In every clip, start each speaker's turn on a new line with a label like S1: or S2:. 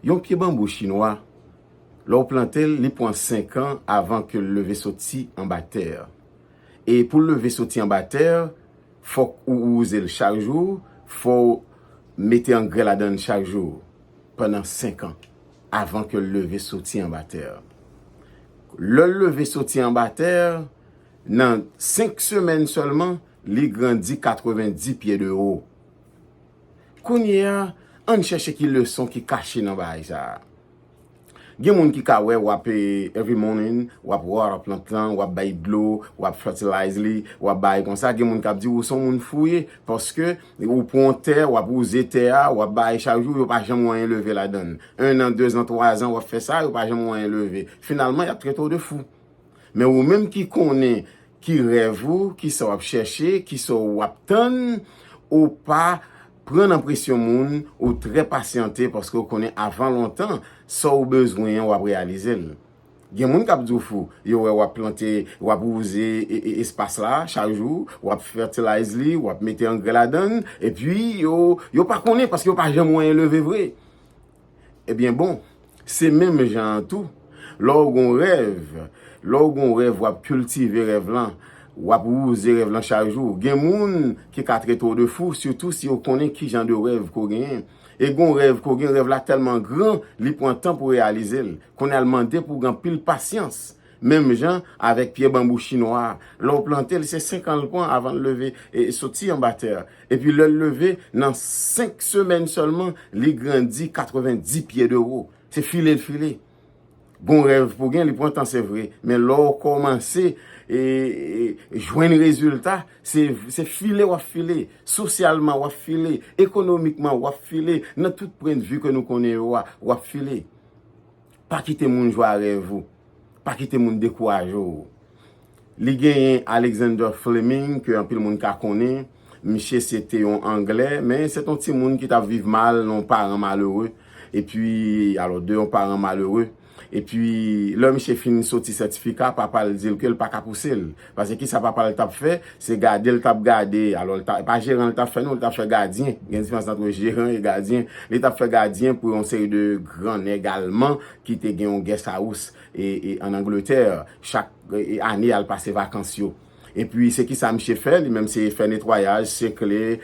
S1: Yon pye banbou chinwa, lè ou plante l, li pran 5 an avan ke l leve soti anba tè. E pou l leve soti anba tè, fòk ou wouze l chak jou, fò ou mete angrè ladan l chak jou pandan 5 an avan ke l leve soti anba tè. Lè l leve soti anba tè, nan 5 semèn sèlman, Li grandi 90 pye de wo. Kounye a, ann chèche ki leson ki kache nan bagay sa a. Gen moun ki ka wè w ap, every morning, w ap water plant lan, w ap bay dlo, w ap fertilize li, w ap bay konsa. Gen moun k ap di ou se yon moun fouye paske ou pran yon tè, w ap wouze tè a, w ap bay chak jou, yo pa janm wè anyen leve ladan l. Ennan, dezan, twazan, w ap fè sa, yo pa janm wè anyen leve. Finalman, y ap trete w de fou. Men ou menm ki konnen ki rèv ou, ki sa w ap chèche, ki sa w ap tann, ou pa pran nan presyon moun, ou trè pasyante paske ou konnen avan lontan sa w bezwen an w ap reyalize l. Gen moun k ap di w fou, yo wè w ap plante, w ap wouze espas la chak jou, w ap fètilayiz li, w ap mete angrè ladan l, epi yo pa konnen paske yo pa janm wè yon leve vre. Ebyen bon, se menm jan an tou, lè w gon rèv, lè w gon rèv w ap kiltive rèv lan, w ap wouze rèv lan chak jou. Gen moun ki ka trete w de fou, sitou si yo konnen ki jan de rèv ke w genyen. E gon rèv ke w gen, rèv la tèlman gran, li pran tan pou reyalize l. Kounye a l mande pou w gen anpil pasyans. Menm jan avèk pye banbou chinwa a, lè w plante l, se senkan l pran avan l leve e soti anba tè a. Epi lè l leve, nan senk semèn sèlman, li grandi katreven di pye de wo. Se file l file. Gon rèv pou gen, li pran tan se vre, men lè w kòmanse jwenn rezilta, se file w ap file. Sosyalman w ap file, ekonomikman w ap file, nan tout pwendvi ke nou konnen yo a, w ap file. Pa kite moun jwe a rèv ou. Pa kite moun dekouraje w. Li genyen Alexander Fleming ke anpil moun ka konnen. Miche se te yon angle, men se te yon timoun ki tap viv mal nan yon paran malere. E pi, alo, de yon paran malere. E pi, lè miche fin soti sètifika, papa l di l ke l pa ka pouse l. Pase kisa papa l t ap fè, se gade l t ap gade. Alò, e pa jeran l t ap fè non, li t ap fè gadyen. Gen diferans antre jeran e gadyen. Li t ap fè gadyen pou yon seri de gran nèg alman ki te gen yon guest house ann Angletè. Chak ane, y al pase vakans yo. Epi, se kisa misye fè li menm? Se fè netwayaj, sekle,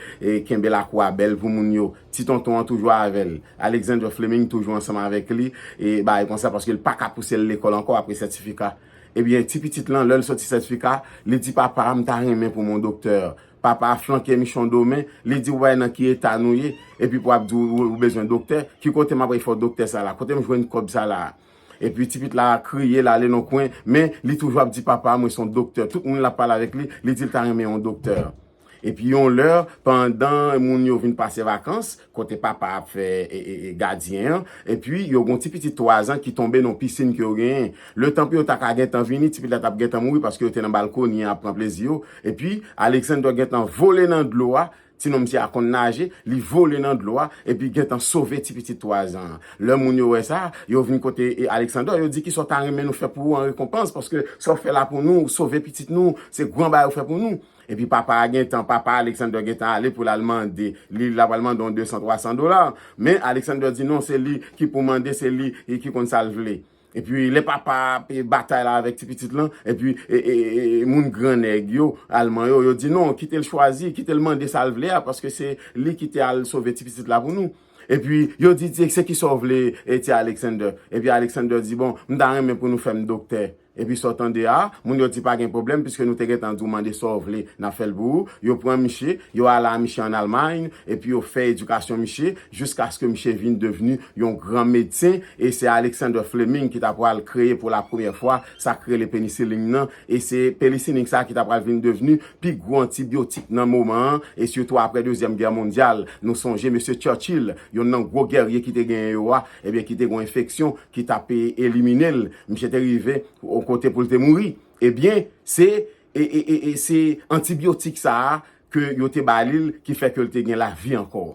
S1: kenbe lakou a bèl pou moun yo. Ti tonton an toujou avè l. Alexander Fleming toujou ansanm avèk li, e bagay konsa, paske l pa ka pouse l lekòl ankò apre sètifika. Ebyen ti pitit lan lèl soti sètifika li di papa a m ta renmen pou mon doktè papa a flanke michon do men li di ou pa wè nan ki eta nou ye epi pou ap di ou bezwen doktè ki kote map fè doktè sa la kotem jwenn kòb sa la epi ti pit la kriye l ale nan kwen men li toujou ap di papa a mwen son doktè tout moun lap pale avèk li li di l ta renmen yon doktè. Epi yon lè, pandan moun yo vin pase vakans, kote papa a ap fè gadyen an, epi yo gen yon ti pitit twazan ki tonbe nan yon pisin ke yo genyen. Letan pou yo ta ka gentan vini, ti pitit la t ap gentan mouri paske yo te nan balkoni an ap pran plezi yo. Epi, Alexander gentan vole nan dlo a, ti nonm ti a konn naje, li vole nan dlo a, epi gentan sove ti pitit twazan an. Lè moun yo wè sa, yo vin kote Alexander, yo di, Kisa w ta renmen nou fè pou ou an rekonpans? Paske sa w fè la pou nou, ou sove pitit nou, se gran bagay ou fè pou nou. Epi papa a gentan, papa Alexander gentan ale pou l al mande li, l ap al mande yon desan, twasan dola. Men Alexander di non, se li ki pou mande, se li ki konn sa l vle. Epi lè papa a ap batay la avèk ti pitit lan, epi moun gran nèg yo, Alman yo, yo di non, kite l chwazi, kite l mande sa l vle a, paske se li ki te al sove ti pitit la pou nou. Epi yo di, se ki sa w vle ti Alexander? Epi Alexander di, bon, m ta renmen pou nou fè m doktè. Epi sa w tande a? Moun yo di pa gen pwoblèm piske nou te gentan di w mande sa w vle, n ap fè l pou ou. Yo pran miche, yo ale a miche ann Almay, epi yo fè edikasyon miche jiskaske miche vin devni yon gran medsen, e se Alexander Fleming ki t apral kreye pou lapremyè fwa sa k rele penisilin nan, e se penisilin sa a ki t apral vin devni pi gwo antibyotik nan moman an, e sitou apre dezyèm gè mondyal. Nou sonje mesye Churchill, yonn nan gwo gèrye ki te genyen yo a, ebyen ki te gen w enfeksyon ki t ap elimine l. Misye te rive yon kote pou l te mouri. Ebyen, se se antibiotik sa a ke yo te ba li l ki fè ke l te gen lavi ankò.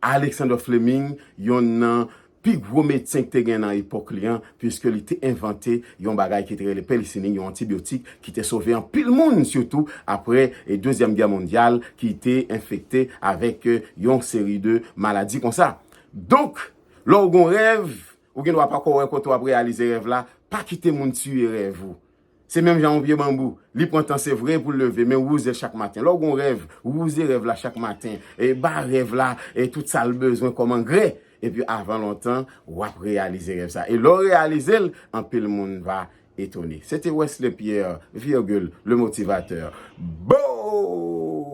S1: Alexander Fleming, yon nan pi gwo medsen ki te gen nan epòk li an, piske li te envante yon bagay ki te rele pelisinin, yon antibiotik ki te sove anpil moun, sitou apre Dezyèm Gè Mondyal ki te enfekte avèk yon seri de maladi konsa. Donk, lè w gen yon rèv, Ou gen dwa pako wè kote w ap reyalize rèv la, pa kite moun tiye rèv ou. Se menm jan yon pye banbou, li pran tan se vre pou l leve, men wouze l chak maten. Lè w gen yon rèv, wouze rèv la chak maten. Ba rèv la tout sa l bezwen kòm angrè, epi avan lontan, w ap reyalize rèv sa. E lè w reyalize l, anpil moun va etone. Se te Wesley Pierre, virgule, le motivateur. Boo!